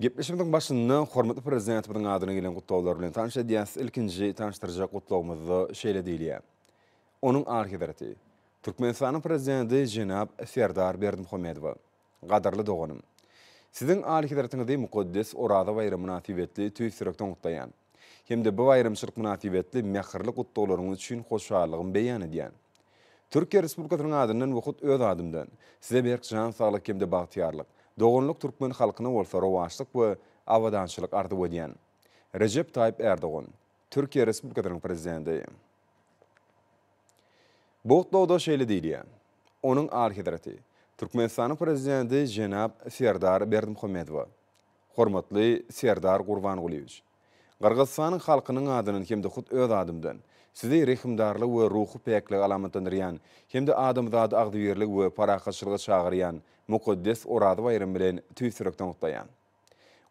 Gepleşigimiziň başynda hormatly Prezidentimiziň adyna gelen gutlaglar bilen tanyş edýäs. Ilkinji tanyşdyrjak gutlagymyzda şeýle diýilýär. Onuň Alyhezreti, Türkmenistanyň Prezidenti jenap Serdar Berdimuhamedowa. Gadyrly doganym! Siziň Alyhezretiňizi mukaddes Oraza baýramy mynasybetli tüýs ýürekden gutlaýan hem-de bu baýramçylyk mynasybetli mähirli gutlaglaryňyz üçin hoşallygym beýan edýän. Türkiýe Respublikasynyň adyndan we hut öz adymdan Size berk jan saglyk hem-de bagtyýarlyk, doganlyk türkmen halkyna bolsa rowaçlyk we abadançylyk arzuw edýän. Rejep Taýyp Ärdogan, Türkiýe Respublikasynyň Prezidenti. Bu gutlagda şeýle diýilýär, Onuň Alyhezreti, Türkmenistanyň Prezidenti jenap Serdar Berdimuhamedowa, Hormatly Serdar Gurbangulyýewiç! Gyrgyzystanyň halkynyň adyndan hem-de hut öz adymdan, Sizi rehimdarlygy we ruhy päkligi alamatlandyrýan hem-de adamzady agzybirlige we parahatçylyga çagyrýan mukaddes Oraza baýramy bilen tüýs ýürekden gutlaýan.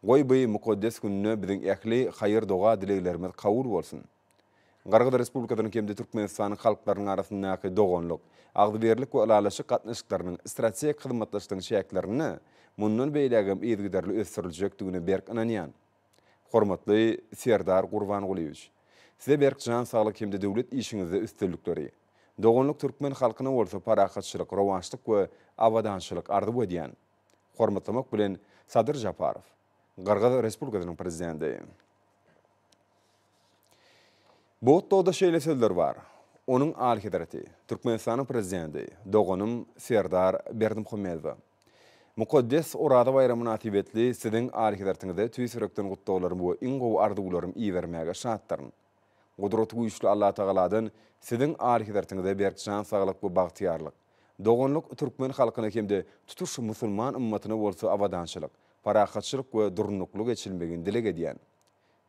Goý, bu mukaddes günde biziň ähli haýyr-doga-dileglerimiz kabul bolsun! Gyrgyz Respublikasynyň hem-de Türkmenistanyň halklarynyň arasyndaky doganlyk, agzybirlik we ylalaşyk gatnaşyklarynyň strategik hyzmatdaşlygyň çäklerinde mundan beýlägem yzygiderli ösdüriljekdigine berk ynanýan. Hormatly Serdar Gurbangulyýewiç! Size berk jan saglyk hem-de döwlet işiňizde üstünlikleri, doganlyk türkmen halkyna bolsa parahatçylyk, rowaçlyk we abadançylyk arzuw edýän. Hormatlamak bilen, Sadyr Žaparow, Gyrgyz Respublikasynyň Prezidenti. Botdogda şeýle sözler bar, Onuň Alyhezreti, Türkmenistanyň Prezidenti, doganym Serdar Berdimuhamedowa. Mukaddes Oraza baýramy mynasybetli Siziň Alyhezretiňize tüýs ýürekden gutlaglarym we iň gowy arzuwlarym ibermäge şatdyryn. Gudratygüýçli Allatagaladan Siziň Alyhezretiňize berk jan saglyk we bagtyýarlyk, doganlyk, türkmen halkyna hem-de tutuş musulman ymmatyna bolsa abadançylyk, parahatçylyk we durnukly geçilmegini dileg edýän.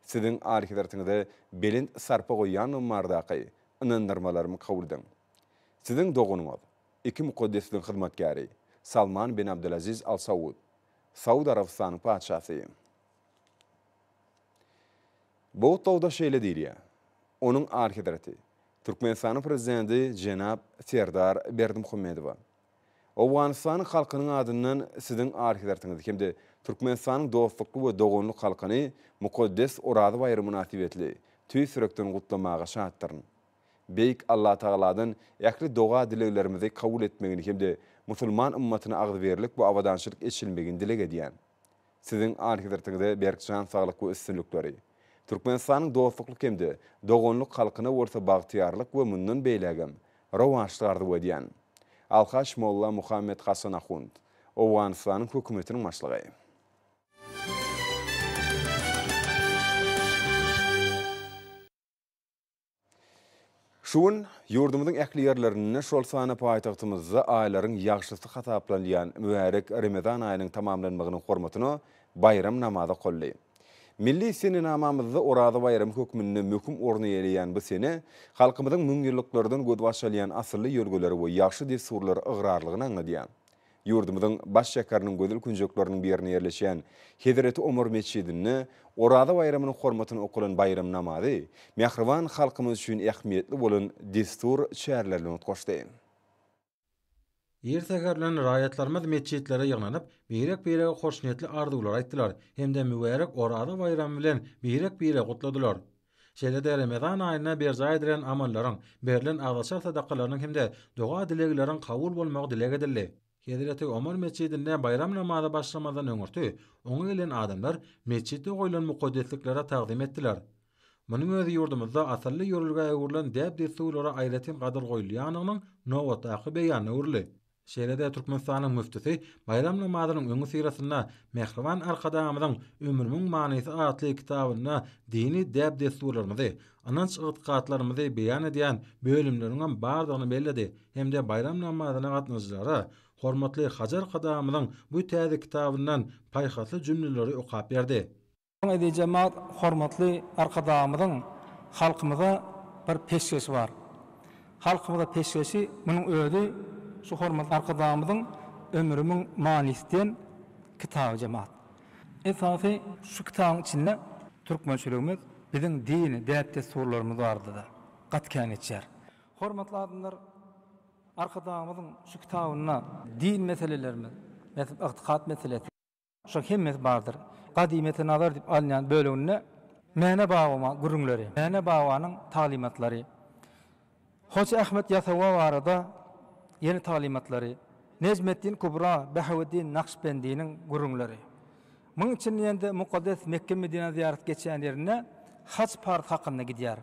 Siziň Alyhezretiňize belent sarpa goýýanlygym bardaky ynandyrmalarym kabul ediň. Siziň doganyňyz, iki mukaddesligiň hyzmatkäri, Salman bin Abdulaziz Al Saud, Saud Arabystanyň patyşasy. Bu gutlagda şeýle diýilýär, Onuň Alyhezreti, Türkmenistanyň Prezidenti jenap Serdar Berdimuhamedowa, Owganystanyň halkynyň adyndan Siziň Alyhezretiňizi hem-de Türkmenistanyň dostlukly we doganlyk halkyny mukaddes Oraza baýramy mynasybetli tüýs ýürekden gutlamaga şatdyryn. Beýik Allatagaladan ähli doga-dileglerimizi kabul etmegini hem-de musulman ymmatyna agzybirlik we abadançylyk eçilmegini dileg edýän. Siziň Alyhezretiňize berk jan saglyk we üstünlikleri, Türkmenistanyň dostlukly hem-de doganlyk halkyna bolsa bagtyýarlyk we mundan beýlägem rowaçlyk arzuw edýän. Alhaç Molla Muhammet Hasan Ahund, Owganystanyň Hökümetiniň Başlygy. Şu gün ýurdumyzyň ähli ýerlerinde, şol sanda paýtagtymyzda aýlaryň ýagşysy hasaplanylýan mübärek Remezan aýynyň tamamlanmagynyň hormatyna baýram namazy okaldy. Milli senenamamyzda Oraza baýramy hökmünde möhüm orun eýeleýän bu sene halkymyzyň müňýyllyklardan gözbaş alýan asylly ýörgüleri we ýagşy dessurlary ygrarlygyny aňladýar. Ýurdumyzyň baş şäheriniň gözel künjekleriniň birinde ýerleşýän Hezreti Omar metjidinde Oraza baýramynyň hormatyna okalan baýram namazy mähriban halkymyz üçin ähmiýetli bolan dessur çäreler bilen utgaşdy. Ir säherden raýatlarymyz metjitlere ýygnanyp, birek-birege hoşniýetli arzuwlar aýtdylar hem-de mübärek Oraza baýramy bilen birek-bire gutladylar. Şeýle-de Remezan aýynda berjaý edilen amallaryň, berlen agzaçar sadakalarynyň hem-de doga-dilegleriň kabul bolmagy dileg edildi. Hezreti Omar metjidinde baýram namaza başlamazdan öňürti oňa gelen adamlar metjitde goýlan mukaddesliklere tagzym etdiler. Munuň özi ýurdumyzda asylly ýörelgä öwrülen däp-dessurlara aýratyn gadyr goýulýandygynyň nobatdaky beýanyna öwrüldi. Şeýle-de Türkmenistanyň müftüsi baýram namazynyň öňüsyrasynda Mähriban Arkadagymyzyň Ömrümiň manysy atly kitabynda dini däp-dessurlarymyzy, ynanç-ygtykatlarymyzy beýan edýän bölümleriňem bardygyny belledi hem-de baýram namazyna gatnaşyjylara hormatly hajy Arkadagymyzyň bu täze kitabyndan paýhasly jümleleri okap berdi. Eziz jemaat hormatly Arkadagymyzyň halkymyza bir peşgeşi bar. Halkymyza peşgeşi munuň özi şu hormatly Arkadagymyzyň Ömrümiň manysy diýen kitaby jemaat. Esasy şu kitabyň içinde türkmençiligimiz, biziň dini däp-dessurlarymyz barada-da gaty kän geçýär. Hormatly adamlar Arkadagymyzyň şu kitabynda din meselelerimiz, mesel ygtykat meselesi, Şoň hemmesi bardyr. Gadymyýete nazar diýip alynýan böleginde Mäne babama gürrüňleri, Mäne babanyň taglymatlary, Hoja Ahmet Ýasawy barada ýene taglymatlary, Nejmeddin Kubra, Bahaweddin Nakşbendiniň gürrüňleri. Munuň içinde ýene-de mukaddes Mekge-Medinä zyýarat geçýän ýerinde haç-parz hakynda gidýär.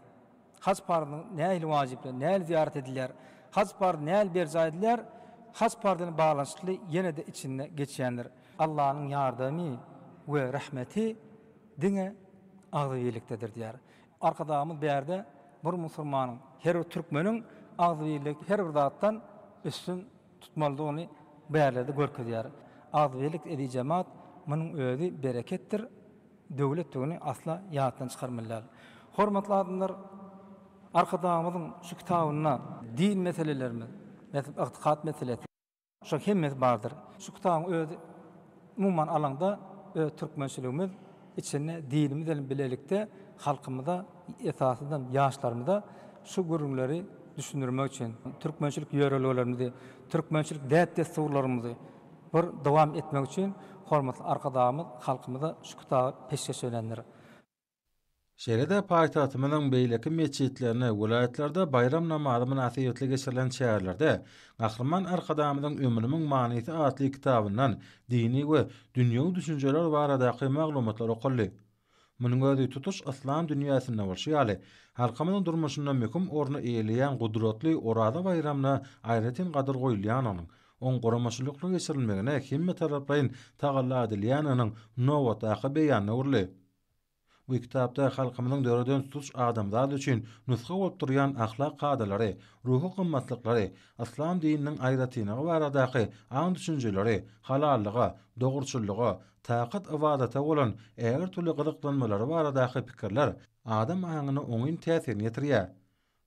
Haj parzynyň nähili wajypdygy, nähili zyýarat edilýär, haj parzy nähili berjaý edilýär, haj parzy bilen baglanyşykly ýene-de içinde geçýändir. Allanyň ýardamy we rahmeti diňe agzybirlikdedir diýýär. Arkadagymyz bärde bir musurmanyň, her bir türkmeniň agzybirlik her bir zatdan üstün tutmalydygyny bärlerde görkezýär. Agzybirlik edi jemat, munuň özi bereketdir. döwletdigini asla ýatdan çykarmaly däl. Hormatly adamlar, Arkadagymyzyň şu kitabynda din meselelerimiz, mesel, ygtykat meselesi, şol hemmesi bardyr. Şu kitabyň özi, umuman alaňda, öz türkmençiligimiz içinde dinimiz bilen bilelikde halkymyza, esasanam ýaşlarymyza şu gürrüňleri düşündirmek üçin, türkmençilik ýörelgelerimizi, türkmençilik däp-dessurlarymyzy, Bir dowam etmek üçin hormatly Arkadagymyz halkymyza şu kitaby peşgeş edendir. Şeýle-de paýtagtymyzyň beýleki metjitlerinde, welaýatlarda baýram namazy mynasybetli geçirilen çärelerde Gahryman Arkadagymyzyň Ömrümiň manysy atly kitabyndan dini we dünýewi düşünjeler baradaky maglumatlar okaldy. Munuň özi tutuş yslam dünýäsinde bolşy ýaly, halkymyzyň durmuşynda möhüm orny eýeleýän gudratly Oraza baýramyna aýratyn gadyr goýulýandygynyň, oň guramaçylykly geçirilmegine hemmetaraplaýyn tagalla edilýändiginiň nobatdaky beýanyna öwrüldi. Bu kitapda halkymyzyň döreden tutuş adamzat üçin nusga bolup durýan ahlak kadalary, ruhy gymmatlyklary, yslam dininiň aýratynlygy baradaky aň-düşünjeleri, halallyga, dogruçyllyga, Takat ybadata bolan äger türlü gyzyklanmalary baradaky pikirler adam aňyna oňyn täsirini ýetirýär.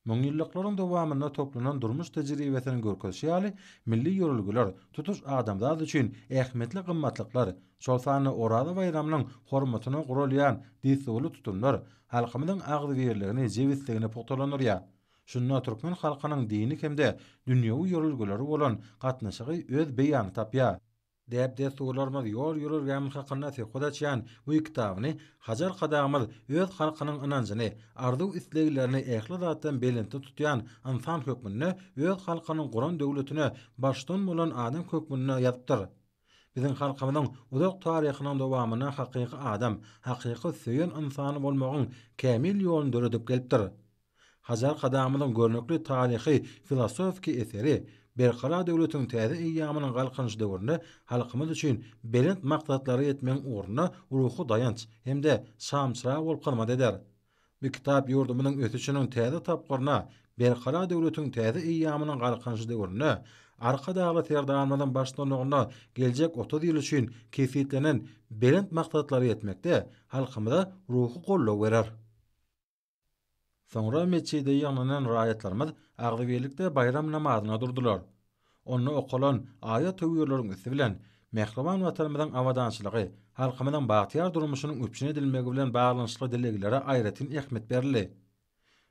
Müňýyllyklaryň dowamynda toplanan durmuş tejribesiniň görkezişi ýaly, milli ýörelgeler, tutuş adamzat üçin ähmiýetli gymmatlyklar, şol sanda Oraza baýramynyň hormatyna guralýan dessurly tutumlar halkymyzyň agzybirligini, jebisligini pugtalandyrýar. Şunda türkmen halkynyň dini hem-de dünýewi ýörelgeleri bolan gatnaşygy öz beýanyny tapýar. Däp-dessurlarymyz ýol ýörelgämiz hakynda söhbet açýan bu kitabyny Hajar Kadamyz öz halkynyň ynanjyny, arzuw-isleglerini ähli zatdan belentde tutýan ynsan hökmünde, öz halkynyň guran döwletine baştutan bolan adam hökmünde ýazypdyr. Biziň halkymyzyň uzak taryhynyň dowamynda hakyky adam, hakyky söýen ynsany bolmagyň kämil ýoluny döredip gelipdir. Hajar Arkadagymyzyň görnükli taryhy, filosofiki eseri Berkarar döwletiň täze eýýamynyň Galkynyş döwründe halkymyz üçin belent maksatlara ýetmegiň ugrunda ruhy daýanç hem-de şamçyrag bolup hyzmat eder. Bu kitap ýurdumyzyň ösüşiniň täze tapgyryna, Berkarar döwletiň täze eýýamynyň Galkynyş döwründe Arkadagly Serdarymyzyň baştutanlygynda geljek otuz ýyl üçin kesgitlenen belent maksatlara ýetmekde halkymyza ruhy goldaw berer. Soňra metjide ýygnanan raýatlarymyz agzybirlikde baýram namazyna durdular. Onda okalan aýat-töwirleriň üsti bilen mähriban Watanymyzyň abadançylygy, halkymyzyň bagtyýar durmuşynyň üpjün edilmegi bilen baglanyşykly dileglere aýratyn ähmiýet berildi.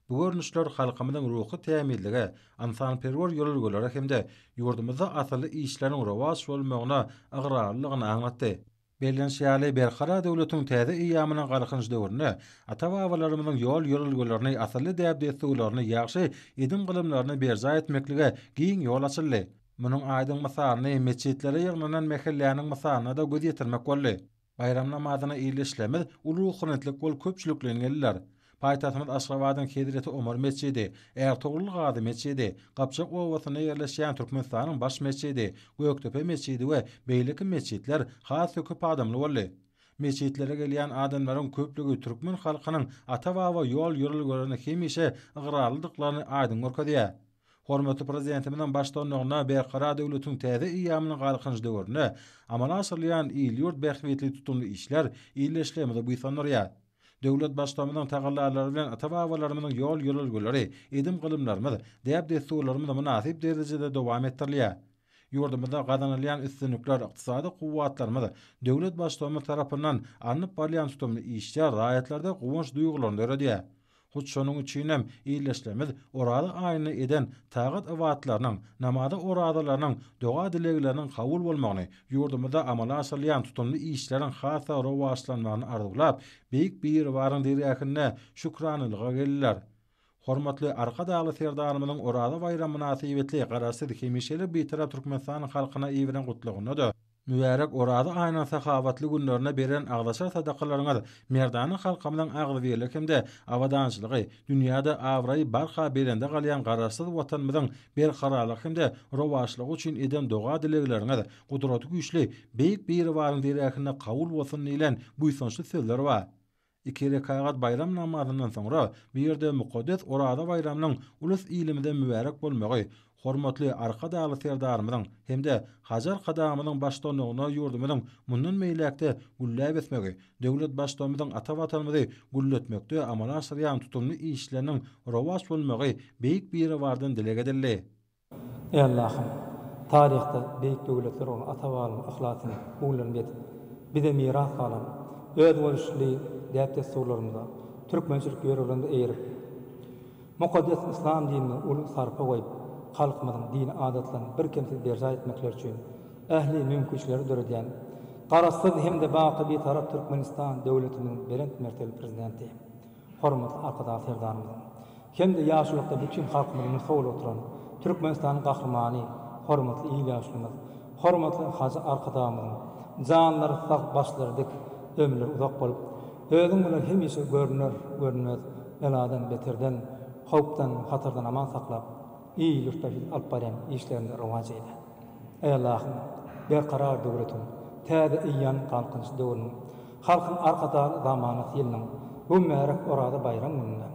Bu görnüşler halkymyzyň ruhy tämizlige, ynsanperwer ýörelgelere hem-de ýurdumyzda asylly işleriň rowaç bolmagyna ygrarlylygyny aňlatdy. Bellenişi ýaly, Berkarar döwletiň täze eýýamynyň Galkynyş döwründe ata-babalarymyzyň ýol-ýörelgelerini, asylly däp-dessurlaryny, ýagşy edim-gylymlaryny berjaý etmeklige giň ýol açyldy. Munuň aýdyň mysalyny metjitlere ýygnanan mähelläniň mysalynda-da göz ýetirmek boldy. Baýram namazyna il-işlemiz uly ruhanyýetlik bolup köpçülikleýin geldiler. Paýtagtymyz Aşgabadyň Hezreti Omar metjidi, Ärtogrul Gazy metjidi, Gapjak obasynda ýerleşýän Türkmenistanyň baş metjidi, Gökdepe metjidi we beýleki metjitler has-da köp adamly boldy. Metjitlere gelýän adamlaryň köplügi türkmen halkynyň ata-baba ýol-ýörelgelerine hemişe ygrarlydyklaryny aýdyň görkezýär. Hormatly Prezidentimiziň baştutanlygynda Berkarar döwletiň täze eýýamynyň Galkynyş döwründe amala aşyrylýan il-ýurt bähbitli tutumly işler ildeşligimizi buýsandyrýar. Döwlet Baştutanymyzyň tagallalary bilen ata-babalarymyzyň ýol-ýörelgeleri, edim-gylymlarymyz, däp-dessurlarymyz mynasyp derejede dowam etdirilýär. Ýurdumyzda gazanylýan üstünlikler, ykdysady kuwwatlarymyz döwlet Baştutanymyz tarapyndan alnyp barylýan tutumly işler raýatlarda guwanç duýgularyny döredýär. Hut şonuň üçinem Ildeşlerimiz Oraza aýynda eden tagat-ybatlarynyň, namaza-orazalarynyň, doga-dilegleriniň kabul bolmagyny, ýurdumyzda amala aşyrylýan tutumly işleriň has-da rowaçlanmagyny arzuwlap, Beýik Biribaryň dergähine şükranalyga geldiler. Hormatly Arkadagly Serdarymyzyň Oraza baýramy mynasybetli Garaşsyz, hemişelik Bitarap Türkmenistanyň halkyna iberen Gutlagynda-da, Mübärek Oraza aýynyň sahawatly günlerinde beren agzaçar sadakalaryňyz merdana halkymyzyň agzybirligi hem-de abadançylygy, dünýäde abraýy barha belende galýan Garaşsyz Watanymyzyň berkararlygy hem-de rowaçlygy üçin eden doga-dilegleriňiz Gudratygüýçli Beýik Biribaryň derähinde kabul bolsun diýlen buýsançly sözler bar. Iki rekagat baýram namazyndan soňra bu ýerde mukaddes Oraza baýramynyň ulus-ilimize mübärek bolmagy, hormatly Arkadagly Serdarymyzyň hem-de Hajy Arkadagymyzyň baştutanlygynda ýurdumyzyň mundan beýläk-de gülläp ösmegi, döwlet Baştutanymyzyň ata Watanymyzy gülletmekde amala aşyrýan tutumly işleriniň rowaç bolmagy Beýik Biribardan dileg edildi. Eý Allahym! Taryhda beýik döwletler bolan ata-babalarymyzyň yhlasyny, ugrularyny bezip, bize miras galan özboluşly däp-dessurlarymyza, türkmençilik ýörelgämize eýerip, mukaddes yslam dinine uly sarpa goýup, halkymyzyň dini adatlaryny birkemsiz berjaý etmekleri üçin ähli mümkinçilikleri döredýän Garaşsyz hem-de baky Bitarap Türkmenistan döwletimiziň belent mertebeli Prezidenti, Hormatly Arkadag Serdarymyzyň hem-de ýaşulykda bütin halkymyzy nusga bolup oturan Türkmenistanyň Gahrymany, hormatly il ýaşulymyz, hormatly Hajy Arkadagymyzyň janlary sag, başlary dik, ömürleri uzak bolup, Özüň bilen hemişe görüner, görünmez beladan, beterden, howpdan, hatardan aman saklap, il-ýurtda siz alyp barýan işleriňizi rowaç eýle. Aý Allahym, Berkarar döwletiň, täze eýýamyň galkynyş döwrüniň, Halkyň Arkadagly zamanasy ýylynyň bu mübärek Oraza baýram gününde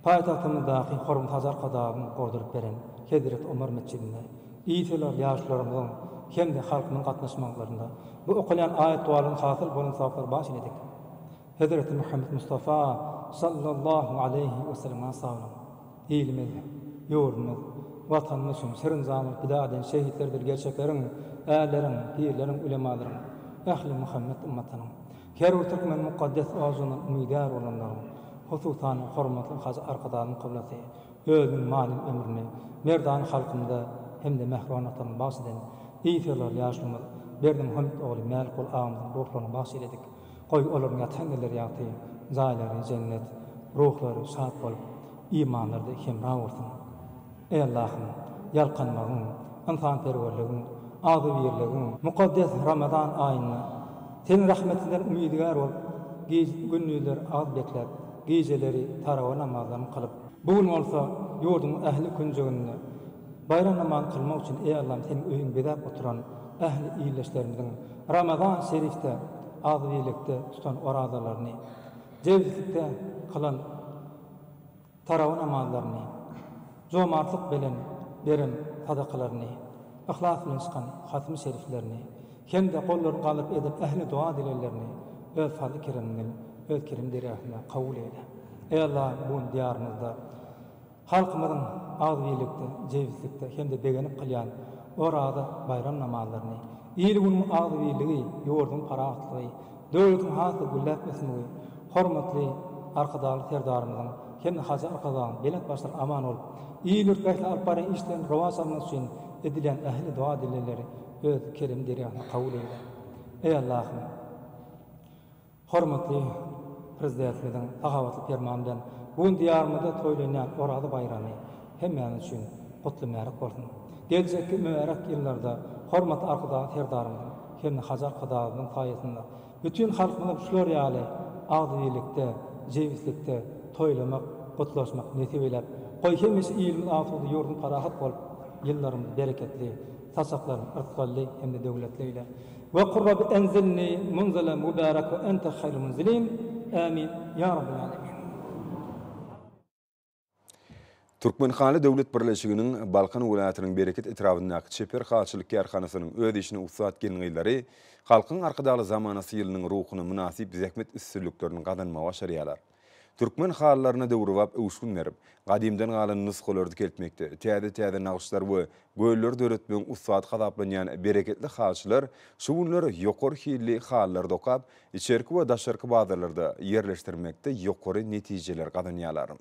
paýtagtymyzdaky Hormat Hajy Arkadagyň gurduryp beren Hezreti Omar metjidinde ýitgiler ýaşlarymyzyň hem-de halkymyzyň gatnaşmaglarynda bu okalýan aýat-dowalardan hasyl bolan sogaplary baş iledik. Hezreti Muhammet Mustafa sallallahu aleýhi we sellem-a salyn! Ilimiz, ýurdumyz, Watanymyz üçin serenjamyny pida eden şehitlerdir gerçekleriň, ärleriň, pirleriň, ulemalaryň, ähli Muhammet ymmatynyň, her bir türkmeniň mukaddes orjundan umydar bolanlaryň, hususan, hormatly Hajy Arkadagymyzyň kyblasy özüniň manyly ömrüni merdana halkymyza hem-de mähriban Watanymyza bagyş eden yz serdar ýaşulymyz Berdimuhamet ogly Mälikguly agymyzyň ruhlaryna bagyş eýledik. Goý, olaryň ýatan ýerleri ýagty, jaýlary, jennet, ruhlary şat bolup, imanlary-da hemra bolsun. Eý Allahym, ýalkanmagyň, ynsanperwerligiň, agzybirligiň, mukaddes Ramazan aýynda Seniň rahmetiňden umydygär bolup, giz, gündizler agyz bekläp, gijeleri tarawa namazlaryny kylyp, bu gün bolsa ýurduň ähli künjeginde Baýram namaz kylmak üçin eý Allam seniň öýüňi bezäp oturan ähli ildeşlerimiziň Ramazan Şerifde agzybirlikde tutan orazalaryny, jebislikde kylan tarawy namazlaryny, jomartlyk belen beren sadakalaryny, yhlas bilen çykan hatymy şeriflerini hem-de gollary galdyryp eden ähli doga dileglerini öz fazly keremiňden öz kerem derýasynda kabul eýle. Eý Allah bu gün diýarymyzda, Halkymyzyň agzybirlikde, jebislikde hem-de begenip kylýan Oraza baýram namazlaryny, il-günüň agzybirligi, ýurduň parahatlygy, döwletiň has-da gülläp ösmegi, hormatly Arkadagly Serdarymyzyň hem-de Hajy Arkadagyň belent başlary aman bolup, il-ýurtda ähli alyp barýan işlerini rowaç almagy üçin edilýän ähli doga-dilegleri Öz kerem derýasynda kabul eýle. Eý, Allahym! Hormatly Prezidentimiziň sahabatly permany bilen bu gün Diýarymyzda toýlanýan Oraza baýramy hemmämiz üçin gutly mübärek bolsun. Geljekki mübärek ýyllarda hormatly Arkadagly Serdarymyzyň hem-de Hajy Arkadagymyzyň saýasynda bütin halkymyza şular ýaly agzybirlikde, jebislikde toýlamak, gutlaşmak nesip eýläp, goý, hemişe ilimiz asuda, ýurdumyz parahat bolup, ýyllarymyz bereketli, Saçaklarym yrk boldy hem-de döwletleýle we Kur Rabb enzilni munzelen mübärek we ente haýrul munzilin, Ämin, ýa Rabbil Älemin. Türkmenhaly döwlet birleşiginiň Balkan welaýatynyň Bereket etrabyndaky çeper halyçylyk kärhanasynyň öz işine ussat gelin-gyzlary Halkyň Arkadagly zamanasy ýylynyň ruhuna mynasyp zähmet üstünliklerini gazanmagy başarýarlar. Türkmen halylaryna döwrebap öwüşgin berip, gadymdan galan nusgalary dikeltmekde, täze-täze nagyşlar we gölleri döretmegiň ussady hasaplanýan bereketli halyçylar şu günler ýokary hilli halylary dokap, içerki we daşarky bazarlarda ýerleşdirmekde ýokary netijeler gazanýarlar.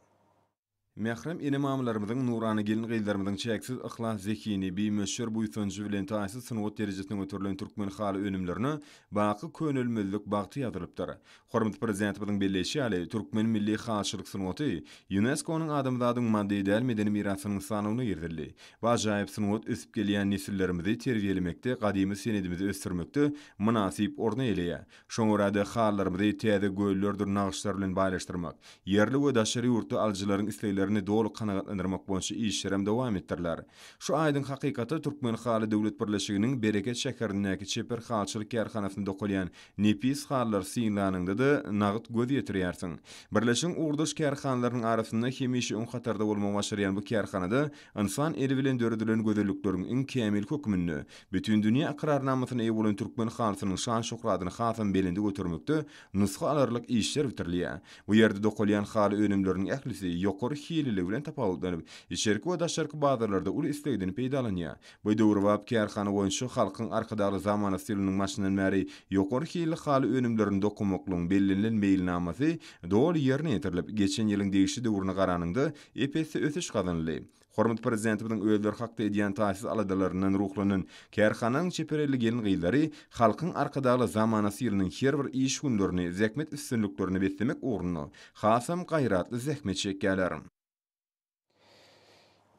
Mährem ene-mamalarymyzyň, nurana gelin-gyzlarymyzyň çäksiz yhlas zehini, bimöçber buýsanjy bilen taýsyz sungat derejesine göterilen türkmen haly önümlerine baky könelmezlik bagty ýazylypdyr. Hormatly Prezidentimiziň belleýşi ýaly, türkmen milli halyçylyk sungaty Ýunesko-nyň Adamzadyň maddy däl medeni mirasynyň sanawyna girizildi we ajaýyp sungat ösüp gelýän nesillerimizi terbiýelemekde, gadymy senedimizi ösdürmekde mynasyp orun eýeleýär. Şoňa görä-de, halylarymyzy täze göllerdir nagyşlar bilen baýlaşdyrmak, ýerli we daşary ýurtly alyjylaryň isleglerini doly kanagatlandyrmak boýunça işlerem dowam etdiriler. Şu aýdyň hakykata Türkmenhaly döwlet birleşiginiň Bereket şäherindäki çeper halyçylyk kärhanasynda dokalýan nepis halylary synlanyňda-da, nagyt göz ýetirýärsiň. Birleşigiň ugurdaş kärhanalarynyň arasynda hemişe öň hatarda bolmagy başarýan bu kärhanada Ynsan eli bilen döredilen gözellikleriň iň kämili hökmünde Bütindünýä ykrarnamasyna eýe bolan türkmen halysynyň şan-şöhratyny hasam belende götermekde nusga alarlyk işler bitirilýär. Bu ýerde dokalýan haly önümleriniň ählisi ýokary hililigi bilen tapawutlanyp, içerki we daşarky bazarlarda uly islegden peýdalanýar. Bu döwrebap kärhana boýunça Halkyň Arkadagly zamana stiliniň başyndan bäri ýokary hilli haly önümlerini dokamaklygyň bellenilen meýilnamasy doly ýerine ýetirilip, geçen ýylyň degişli döwrüne garanyňda, Ep-esli ösüş gazanyldy. Hormatly Prezidentimiziň özleri hakda edýän taýsyz aladalaryndan ruhlanan kärhananyň çeperelli gelin-gyzlary Halkyň Arkadagly zamanasy ýylynyň her bir iş günlerini zähmet üstünliklerine beslemek ugrunda hasam gaýratly zähmet çekýärler.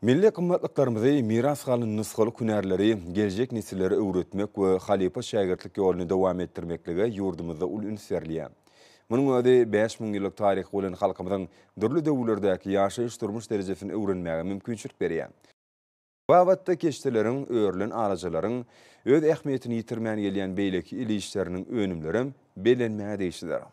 Milli gymmatlyklarymyzy, miras galan nusgalyk hünärleri geljek nesillere öwretmek we halypa-şägirtlik ýoluny dowam etdirmeklige ýurdumyzda uly üns berilýär. Munuň özi bäş müň ýyllyk taryhy bolan halkymyzyň dürli döwürlerdäki ýaşaýyş-durmuş derejesini öwrenmäge mümkinçilik berýär. Bu babatda keşdeleriň, örülen alajalaryň öz ähmiýetini ýitirmän gelýän beýleki el işleriniň önümlerem bellenmäge degişlidir.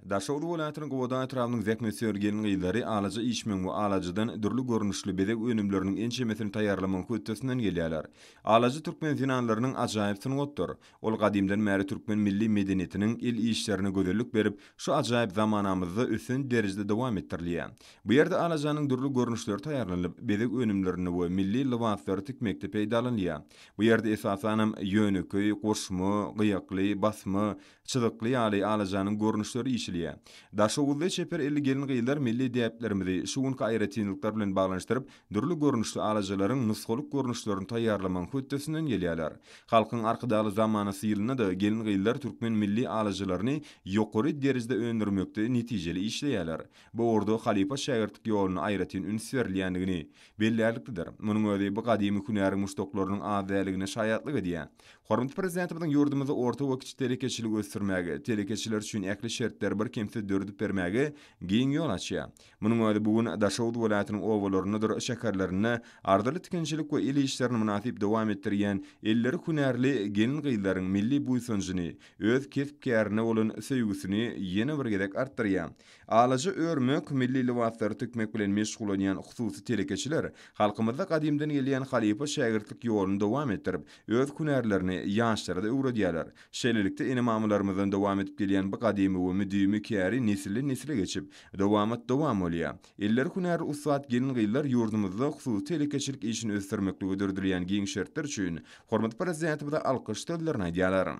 Daşoguz welaýatynyň Gubada etrabynyň zähmetsöýer gelin-gyzlary alaja işmegiň we alajadan dürli görnüşli bezeg önümleriniň ençemesini taýýarlamagyň hötdesinden gelýärler. Alaja türkmen zenanlarynyň ajaýyp sungatdyr. Ol gadymdan bäri türkmen milli medeniýetiniň, el işlerine gözellik berip, şu ajaýyp zamanamyzda ösen derejede dowam etdirilýär. Bu ýerde alajanyň dürli görnüşleri taýýarlanyp, bezeg önümlerinde we milli lybaslary tikmekde peýdalanylýar. Bu ýerde esasanam ýönekeý, goşma, gyýakly, basma, çyzykly ýaly alajanyň görnüşleri işilýär. Daşoguzly çeper elli gelin-gyzlar milli däplerimizi şu günki aýratynlyklar bilen baglanyşdyryp, dürli görnüşli alajalaryň nusgalyk görnüşlerini taýýarlamagyň hötdesinden gelýärler. Halkyň Arkadagly zamanasy ýylynda-da gelin-gyzlar türkmen milli alajalaryny ýokary derejede öndürmekde netijeli işleýärler. Bu ugurda halypa-şägirtlik ýoluna aýratyn üns berilýändigini bellärliklidir. Munuň özi bu gadymy hünäriň muşdaklarynyň az däldigine şaýatlyk edýär. Hormatly Prezidentimiziň ýurdumyzda orta we kiçi telekeçiligi ösdürmäge, telekeçiler üçin ähli şertleri birkemsiz döredip bermäge giň ýol açýar. Munuň özi bu gün Daşoguz welaýatynyň obalaryndadyr şäherlerinde arzyly tikinçilik we el işlerini mynasyp dowam etdirýän elleri hünärli gelin-gyzlaryň milli buýsanjyny, öz kesp-kärine bolan söýgüsini ýene bir gezek artdyrýar. Alaja örmek, milli lybaslary tikmek bilen meşgullanýan hususy telekeçiler halkymyzda gadymdan gelýän halypa-şägirtlik ýoluny dowam etdirip, öz hünärlerini ýaşlara-da öwredýärler. Şeýlelikde, ene-mamalarymyzdan dowam edip gelýän bu gadymy we müdimi käri nesilden-nesle geçip, Dowamat dowam bolýar. Eller hünäri ussat gelin-gyzlar ýurdumyzda hususy telekeçilik işini ösdürmeklige döredilýän giň şertler üçin hormatly Prezidentimize alkyş sözlerini aýdýarlar.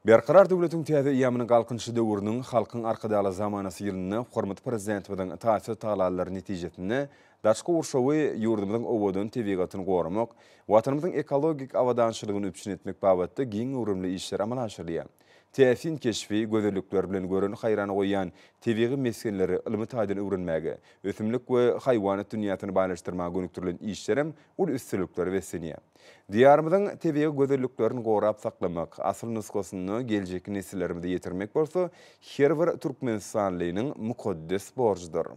Berkarar döwletiň täze eýýamynyň Galkynyşy döwrüniň Halkyň Arkadagly zamanasy ýylynda hormatly Prezidentimiziň taýsyz tagallalary netijesinde daşky gurşawy, ýurdumyzyň owadan tebigatyny goramak, Watanymyzyň ekologik abadançylygyny üpjün etmek babatda giň göwrümli işler amala aşyrylýar. täsin keşbi gözellikler bilen göreni haýrana goýýan tebigy mesgenleri ylmy taýdan öwrenmäge, ösümlik we haýwanat dünýäsini baýlaşdyrmaga gönükdirilen işlerem uly üstünliklere beslenýär. Diýarymyzyň tebigy gözelliklerini gorap saklamak, asyl nusgasyny geljekki nesillerimize ýetirmek bolsa her bir türkmenistanlynyň mukaddes borjudyr.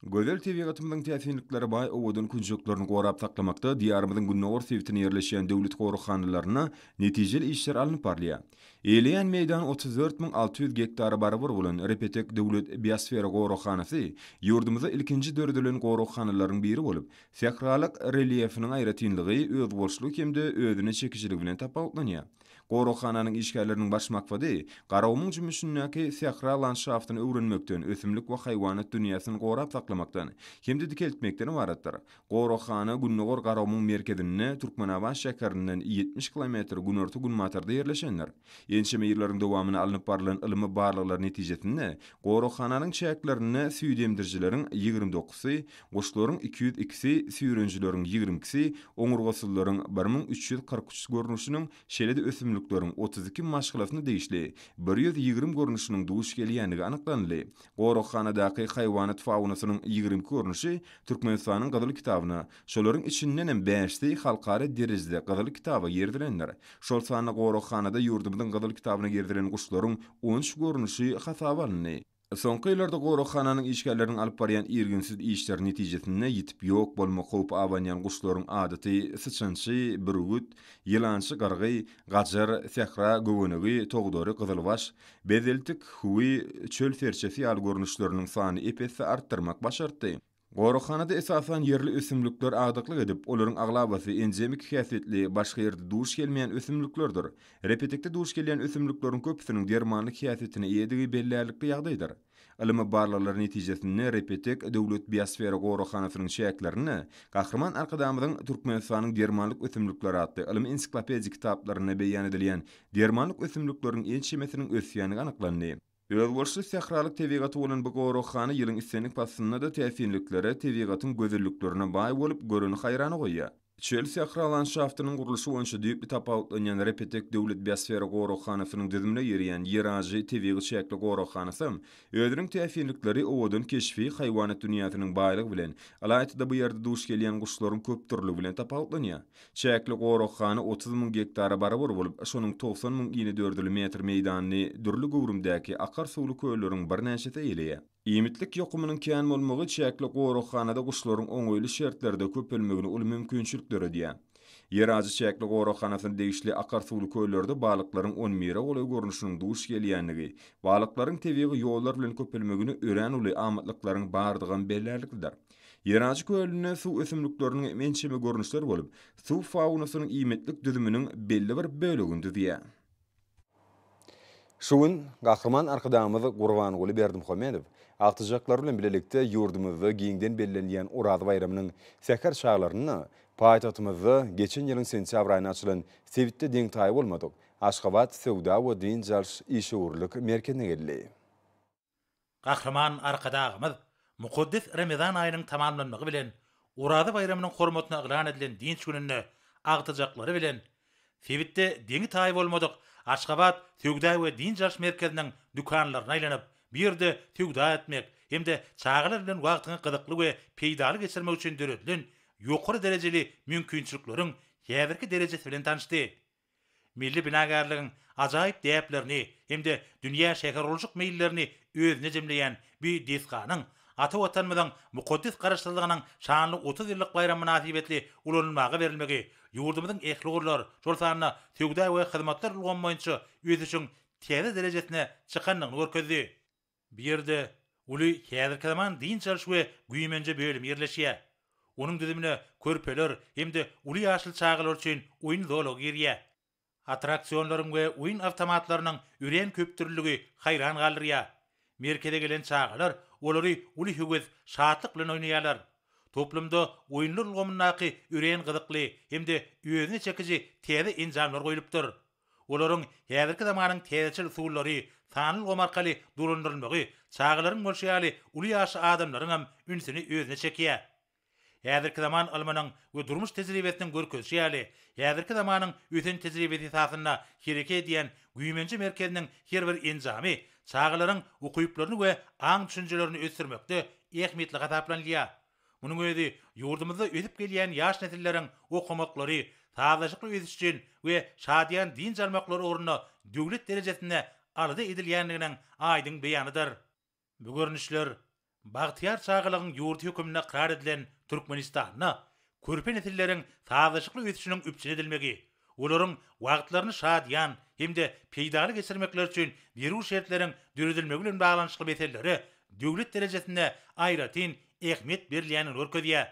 Gözel tebigatymyzyň täsinliklere baý owadan künjeklerini gorap saklamakda Diýarymyzyň gündogar sebitinde ýerleşýän döwlet goraghanlarynda netijeli işler alnyp barylýar. Eýeleýän meýdany otuz dört müň alty ýüz gektara barabar bolan Repetek döwlet biosfera goraghanasy ýurdumyzda ilkinji döredilen goraghanalaryň biri bolup, sähralyk relýefiniň aýratynlygy, özboluşlygy hem-de özüne çekijiligi bilen tapawutlanýar. Goraghananyň işgärleriniň baş maksady Garagumuň jümmüşindäki sähra landşaftyny öwrenmekden, ösümlik we haýwanat dünýäsini gorap saklamakdan hem-de dikeltmekden ybaratdyr. Goraghana gündogar Garagumuň merkezinde, Türkmenabat şäherinden ýetmiş kilometr günorta-günbatarda ýerleşendir. Ençeme ýyllaryň dowamyna alnyp barlan ylmy barlaglar netijesinde goraghananyň çäklerinde süýt emdirijileriň ýigrimi dokuzsy Guşlaryň iki ýüz ikisi, süýrenijileriň ýigrimi ikisi, oňurgasyzlaryň bir müň üç ýüz kyrk üç görnüşiniň, şeýle-de ösümlikleriň otuz iki maşgalasyna degişli bir ýüz ýigrimi görnüşiniň duş gelýändigi anyklanyldy. Goraghanadaky haýwanat faunasynyň ýigrimi iki görnüşi Türkmenistanyň Gyzyl kitabyna, şolaryň içindenem bäşisi halkara derejede Gyzyl kitaba girizilendir. Şol sanda goraghanada ýurdumyzyň Gyzyl kitabyna girizilen guşlaryň on üç görnüşi hasaba alyndy. Soňky ýyllarda goraghananyň işgärleriniň alyp barýan irginsiz işleri netijesinde ýitip ýok bolmak howpy abanýan guşlaryň adaty syçançy, bürgüt, ýylançy gyrgy, gajar, sähra göwenegi, togdary, gyzylbaş, bezeltik, hüwi, çöl serçesi ýaly görnüşleriniň sany ep-esli artdyrmak başartdy. Goraghanada esasan ýerli ösümlikler agdyklyk edip, olaryň aglabasy endemik häsiýetli, başga ýerde duş gelmeýän ösümliklerdir. Repetikde duş gelýän ösümlikleriň köpüsiniň dermanlyk häsiýetine eýedigi bellärlikli ýagdaýdyr. Ylmy barlaglar netijesinde Repetek döwlet biosfera goraghanasynyň çäklerinde Gahryman Arkadagymyzyň Türkmenistanyň dermanlyk ösümlikleri atly ylmy-ensiklopedik kitaplarynda beýan edilýän dermanlyk ösümlikleriň ençemesiniň ösýändigi anyklandy. Özboluşly sähralyk tebigaty bolan bu goraghana ýylyň islendik paslynda-da täsinliklere, tebigatyň gözelliklerine baý bolup, göreni haýrana goýýar. Çöl-sähra landşaftynyň gurluşy boýunça düýpli tapawutlanýan Repetek döwlet biosfera goraghanasynyň düzümine girýän Ýerajy tebigy çäkli goraghanasam özüniň täsinlikleri, owadan keşbi, haýwanat dünýäsiniň baýlygy bilen, ylaýta-da bu ýerde duş gelýän guşlaryň köpdürlügi bilen tapawutlanýar. Çäkli goraghana otuz müň gektara barabar bolup, şonuň togsan müň ini dördül metr meýdanyny dürli göwrümdäki akar suwly kölleriň birnäçesi eýeleýär. Iýmitlik ýokumynyň kän bolmagy çäkli goraghanada guşlaryň oňaýly şertlerde köpelmegine uly mümkinçilik döredýär. Ýerajy çäkli goraghanasyna degişli akar suwly köllerde balyklaryň on bire golaý görnüşiniň duş gelýändigi, balyklaryň tebigy ýollar bilen köpelmegine örän uly amatlyklaryň bardygam bellärliklidir. Ýerajy kölünde suw ösümlikleriniň ençeme görnüşleri bolup, suw faunasynyň iýmitlik düzüminiň belli bir bölegini düzýär. Şu gün Gahryman Arkadagymyz Gurbanguly Berdimuhamedow agtyjaklar bilen bilelikde ýurdumyzda giňden bellenilýän Oraz baýramynyň säher çaglarynda paýtagtymyzda geçen ýylyň sentýabr aýynda açylan sebitde deňtaýy bolmadyk Aşgabat söwda we dynç alyş işewürlik merkezine geldi. Gahryman Arkadagymyz mukaddes Remezan aýynyň tamamlanmagy bilen Oraza baýramynyň hormatyna yglan edilen dynç gününde agtyjaklary bilen sebitde deňi-taýy bolmadyk Aşgabat söwda we dynç alyş merkeziniň dükanlaryna aýlanyp, bu ýerde söwda etmek hem-de çagalar bilen wagtyňy gyzykly we peýdaly geçirmek üçin döredilen ýokary derejeli mümkinçilikleriň häzirki derejesi bilen tanyşdy. Milli binagärligiň ajaýyp däplerini hem-de dünýä şähergurluşyk meýillerini özüne jemleýän bu desganyň ata Watanymyzyň mukaddes Garaşsyzlygynyň şanly otuz ýyllyk baýramy mynasybetli ulanylmaga berilmegi ýurdumyzyň ähli ugurlar, şol sanda söwda we hyzmatlar ulgamy boýunça ösüşiň täze derejesine çykandygyny görkezdi. Bu ýerde uly häzirki zaman dynç alyş we güýmenje bölümi ýerleşýär. Onuň düzümine körpeler hem-de uly ýaşly çagalar üçin oýun zolagy girýär. Attraksionlaryň we oýun awtomatlarynyň örän köpdürlüligi haýran galdyrýar. Merkeze gelen çagalar olary uly höwes, şatlyk bilen oýnaýarlar. Toplumda oýunlar ulgamyndaky örän gyzykly hem-de özüne çekiji täze enjamlar goýlupdyr. Olaryň häzirki zamanyň täzeçil usullary, sanly ulgam arkaly dolandyrylmagy çagalaryň bolşy ýaly uly ýaşly adamlaryň hem ünsüni özüne çekýär. Häzirki zaman ylmynyň we durmuş tejribesiniň görkezişi ýaly, häzirki zamanyň ösen tejribesi esasynda hereket edýän güýmenje merkeziniň her bir enjamy çagalaryň ukyplaryny we aň-düşünjelerini ösdürmekde ähmiýetli hasaplanylýar. Munuň özi ýurdumyzda ösüp gelýän ýaş nesilleriň okamaklary, sazlaşykly ösüş üçin we şadyýan dynç almaklary ugrunda döwlet derejesinde alada edilýändiginiň aýdyň beýanydyr. Bu görnüşler Bagtyýar çagalygyň ýurdy hökmünde ykrar edilen Türkmenistanda körpe nesilleriň sazlaşykly ösüşiniň üpjün edilmegi, olaryň wagtlaryny şadyýan hem-de peýdaly geçirmekleri üçin zerur şertleriň döredilmegi bilen baglanyşykly meselelere döwlet derejesinde aýratyn ähmiýet berilýändigini görkezýär.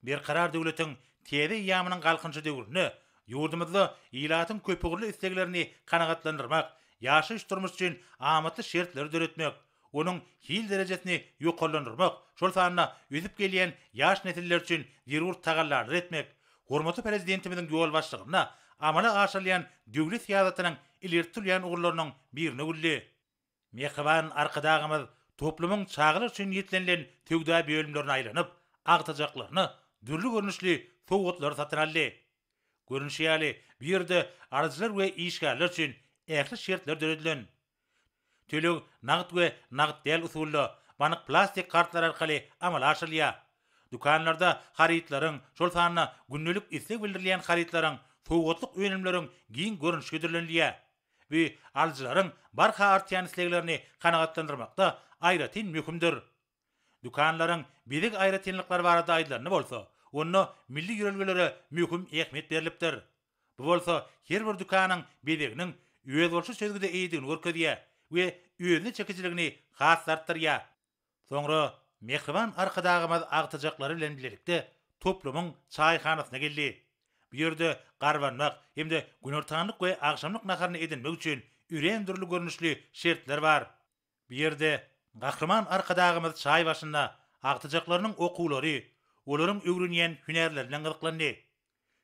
Berkarar döwletiň täze eýýamynyň Galkynyşy döwründe ýurdumyzda ilatyň köpugurly isleglerini kanagatlandyrmak, ýaşaýyş-durmuş üçin amatly şertleri döretmek, onuň hil derejesini ýokarlandyrmak, şol sanda ösüp gelýän ýaş nesiller üçin zerur tagallalary etmek hormatly Prezidentimiziň ýolbaşçylygynda amala aşyrylýan döwlet syýasatynyň ileri tutulýan ugurlarynyň biri nöwüldi. Mähriban Arkadagymyz toplumyň çagalar üçin niýetlenilen söwda bölümlerine aýlanyp, agtajaklaryna dürli görnüşli sowgatlary satyn aldy. Görnüşi ýaly, bu ýerde alyjylar we işgärler üçin ähli şertler döredilen. Töleg nagt we nagt däl usulda, bank plastik kartlary arkaly amala aşyrylýar. Dükanlarda harytlaryň, şol sanda gündelik isleg bildirilýän harytlaryň, sowgatlyk önümleriň giň görnüşi hödürlenilýär. Bu alyjylaryň barha artýan isleglerini kanagatlandyrmakda aýratyn möhümdir. Dükanlaryň bezeg aýratynlyklary barada aýdylanda bolsa, onda milli ýörelgelere möhüm ähmiýet berlipdir. Bu bolsa her bir dükanyň bezeginiň özboluşly çözgüde eýedigini görkezýär we özüne çekijiligini has-da artdyrýar. Soňra mähriban Arkadagymyz agtyjaklary bilen bilelikde toplumyň çaýhanasyna geldi. Bu ýerde garbanmak hem-de günortanlyk we agşamlyk naharyny edinmek üçin örän dürli görnüşli şertler bar. Bu ýerde Gahryman Arkadagymyz çaý başynda agtyjaklarynyň okuwlary, olaryň öwrenýän hünärleri bilen gyzyklandy.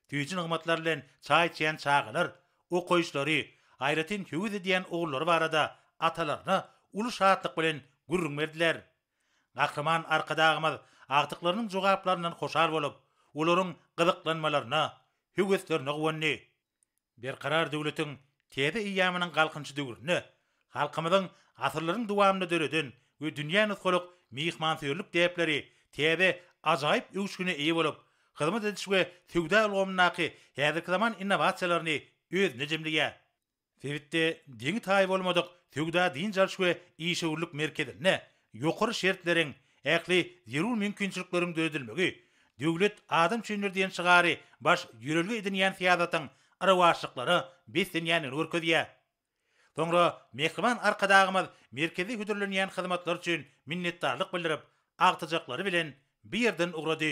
Süýji nygmatlar bilen çaý içýän çagalar okaýyşlary, aýratyn höwes edýän ugurlary barada atalaryna uly şatlyk bilen gürrüň berdiler. Gahryman Arkadagymyz agtyklarynyň jogaplaryndan hoşal bolup, olaryň gyzyklanmalaryna, höweslerine guwandy. Berkarar döwletiň täze eýýamynyň Galkynyşy döwründe halkymyzyň asyrlaryň dowamynda döreden we dünýä nusgalyk myhmansöýerlik däpleri täze ajaýyp öwüşgine eýe bolup, hyzmat ediş we söwda ulgamyndaky häzirki zaman innowasiýalaryny özünde jemleýär. Sebitde deňi-taýy bolmadyk söwda-dynç alyş we işewürlik merkezinde Ýokary şertleriň, ähli zerur mümkinçilikleriň döredilmegi, Döwlet adam üçindir diýen şygary baş ýörelge edinýän syýasatyň yrawaçlyklara beslenýändigini görkezýär. Soňra mähriban Arkadagymyz merkeze hödürlenýän hyzmatlar üçin minnetdarlyk bildirip, agtyjaklary bilen bu ýerden ugrady.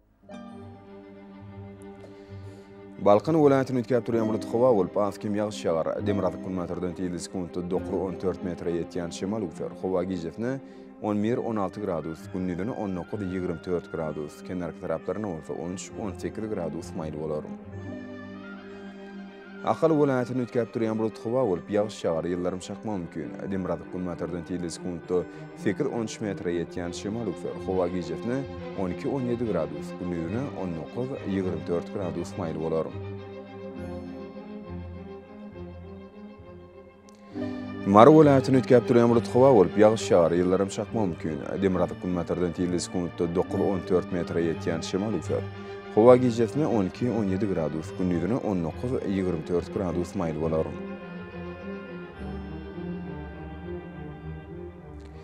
Balkan welaýatyny üýtgäp durýan bulut howa bolup, az kem ýagyş ýagar. Demirgazyk-günbatardan tizligi sekuntda dokuz, on dört metre ýetýän şemal üwser. Howa gijesine on bir, on alty gradus, gündizine on dokuz, ýigrimi dört gradus, kenarki taraplaryna bolsa on üç, on sekiz gradus maýyl bolar. Ahal welaýatyny üýtgäp durýan bulut howa bolup, ýagyş ýagar, ýyldyrym çakmagy mümkin. Demirgazyk-günbatardan tizligi sekuntda sekiz-on üç metre ýetýän şemal üwser. Howa gijesine on iki-on ýedi gradus, gündizine on dokuz-ýigrimi dört gradus maýyl bolar. Mary welaýatyny üýtgäp durýan bulut howa bolup, ýagyş ýagar, ýyldyrym çakmagy mümkin. Demirgazyk günbatardan tirli sekuntda dokuz-on dört metre ýetýän şemal üýser. Howa gijesine on iki-on ýedi gradus, gündizine on dokuz-ýigrimi dört gradus maýyl bolar.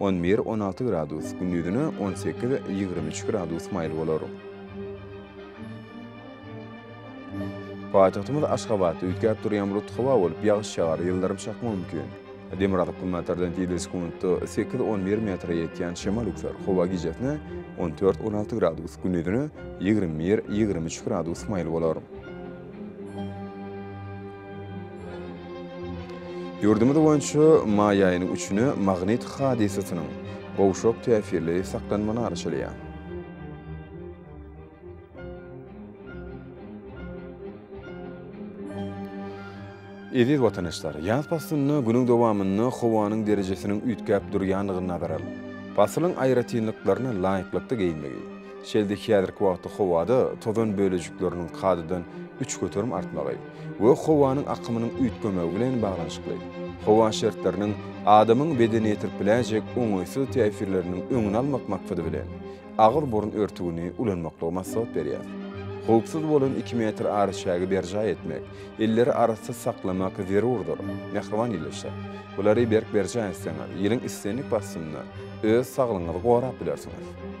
On bir, on alty gradus, gündizine on sekiz, ýigrimi üç gradus maýyl bolar. Paýtagtymyz Aşgabatda üýtgäp durýan bulut howa bolup, ýagyş ýagar, ýyldyrym çakmagy mümkin. Demir atyp günbatardan tizligi sekuntda sekiz, on bir metre ýetýän şemal üwser. Howa gijesine on dört, on alty gradus, gündizine ýigrimi bir, ýigrimi üç gradus maýyl bolar. Ýurdumyz boýunça maý aýynyň üçüne magnit hadysasynyň gowşak täsirli saklanmany arçalaýar. Eziz watandaşlar, ýaz paslynda günüň dowamynda howanyň derejesiniň üýtgäp durýandygyny nazar alyp, pasylyň aýratynlyklaryna laýyklykda geýinmegi, Şeýle-de häzirki wagtda howada tozan bölejikleriniň kadadan üç göterim artmagy we howanyň akymynyň üýtgemegi bilen baglanyşykly. Howa şertleriniň adamyň bedenine ýetirip biläýjek oňaýsyz täsirleriniň öňüni almak maksady bilen, agyr burun örtügini ulanmaklygy maslahat berýär. Howpsuz bolan iki metr araçägi berjaý etmek, elleri arassyz saklamak zerurdyr. Mähriban ildeşler! Bulary berk berjaý etseňiz, ýylyň islendik paslynda öz saglygyňyzy gorap bilersiňiz.